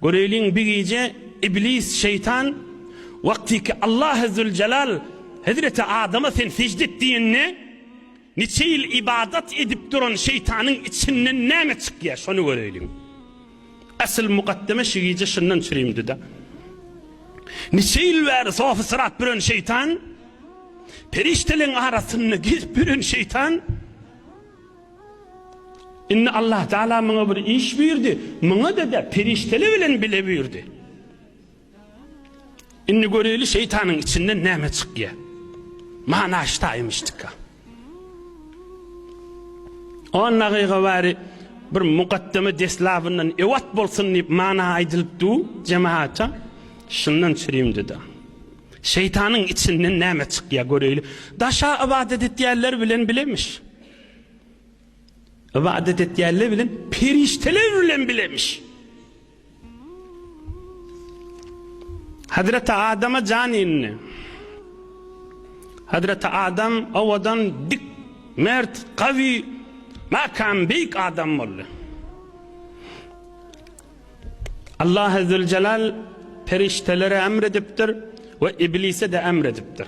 Göreýliň bir gije Iblis şeýtan wagtyky Allahy Züljelal hezreti Adama sen sejde et diýende niçe ýyl ybadat edip duran şeýtanyň içinden näme çykýar şony göreýliň. Asyl mukaddeme şu gije şundan çürimdida. Niçe ýyl bäri sofy syrat büren şeýtan, perişdeleň arasynda gezip ýören şeýtan, Indi Allahtagala maňa bir iş buýurdy, maňa-da perişdeler bilen bile buýurdy. Indi göreýli şeýtanyň içinden näme çykýar. Mana ştaýmyşdyka. On dagyga bari bir mukaddeme deslabyndan ewat bolsun diýip mana aýdylyp du jemaata şundan çürim dedi. Şeytanın içinden näme çykýar göreýli. Daşa ibadet etýärler bilen bilemiş. Ybadat etýänler bilen perişdeler bilen bilemiş. Hazreti Adama jan indi. Hazreti Adam owadan dik, mert, gawy, makam beýik adam boldy. Allah Azze ve Celal perişdelere emredipdir ve iblise de emredipdir.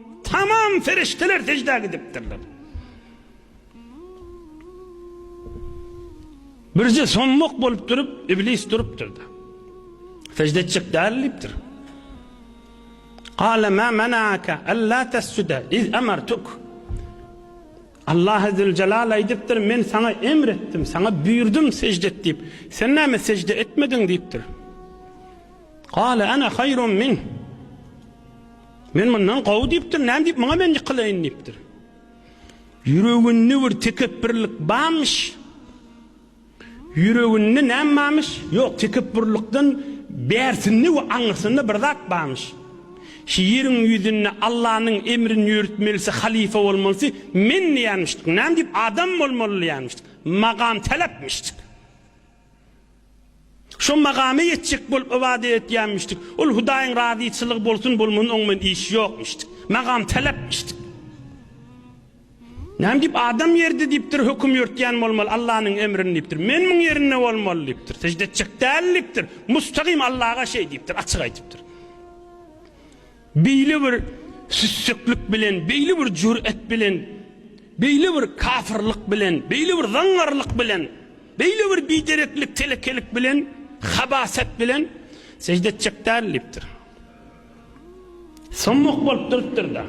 Tamam perişdeler seždä gidipdirler. Birje soňluk bolup durup, iblis durupdyr-da. Sežde etjek däl diýipdir. Qala ma manaka alla tasjuda iz amartuk. Allah azze jalal aýdypdyr, men saňa emr etdim, saňa buýurdum sežde et diýip. Sen näme sežde etmediň diýipdir. Qala ana haýrun min. Men mundan gowy diýipdir, näme diýip muňa men ýykylaýyn diýipdir. Ýüreginde bir tekepbirlik barmyş. Ýüreginde näme barmyş? Ýok, tekepbirlikden bärsinde we aňyrsynda bir zat barmyş. Şu ýeriň ýüzünde Allanyň emrini ýörütmelisi, halyfa bolmalysy men diýýänmişdik. Näme diýip adam bolmaly diýýänmişdik. Magam talapmyşdyk. Şo makama ýetjek bolup ybadat etýänmişdik. Ol Hudaýyň razyçylygy bolsun-bolmasyn oň bilen işi ýokmuşdy. Makam talapmyşdyk. Näme diýip, adam ýerde diýipdir, höküm ýörtýän bolmaly, Allanyň emrini diýipdir. Men muň ýerinde bolmaly diýipdir. Sežde etjek däl diýipdir. Mustagym Allaga şeý diýipdir, açyk aýdypdyr. Beýle bir süsseklik bilen, beýle bir jür'et bilen, beýle bir kafyrlyk bilen, beýle bir zaňňarlyk bilen, beýle bir bidereklik, telekelik bilen, habaset bilen sejde etjek däl diýipdir. Soň muk bolup durupdyr-da,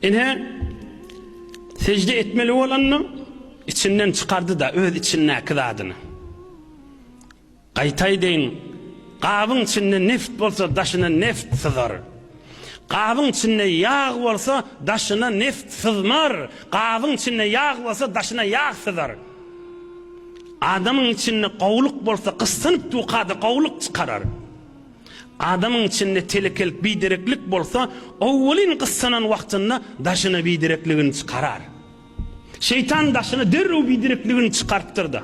ine, sejde etmeli bolanda, içinden çykardy-da öz içindäki zadyny. Gaýta aýdaýyn, gabyň içinde neft bolsa, daşyna neft syzar. Gabyň içinde ýag bolsa, daşyna neft syzmar. Gabyň içinde ýag bolsa, daşyna ýag syzar. Adamyň içinde gowulyk bolsa, gyssanyp dukada gowulyk çykarar. Adamyň içinde telekelik, bidereklik bolsa, owalyn gyssanan wagtynda daşyna biderekligini çykarar. Şeýtan daşyna derrew biderekligini çykarypdyr-da.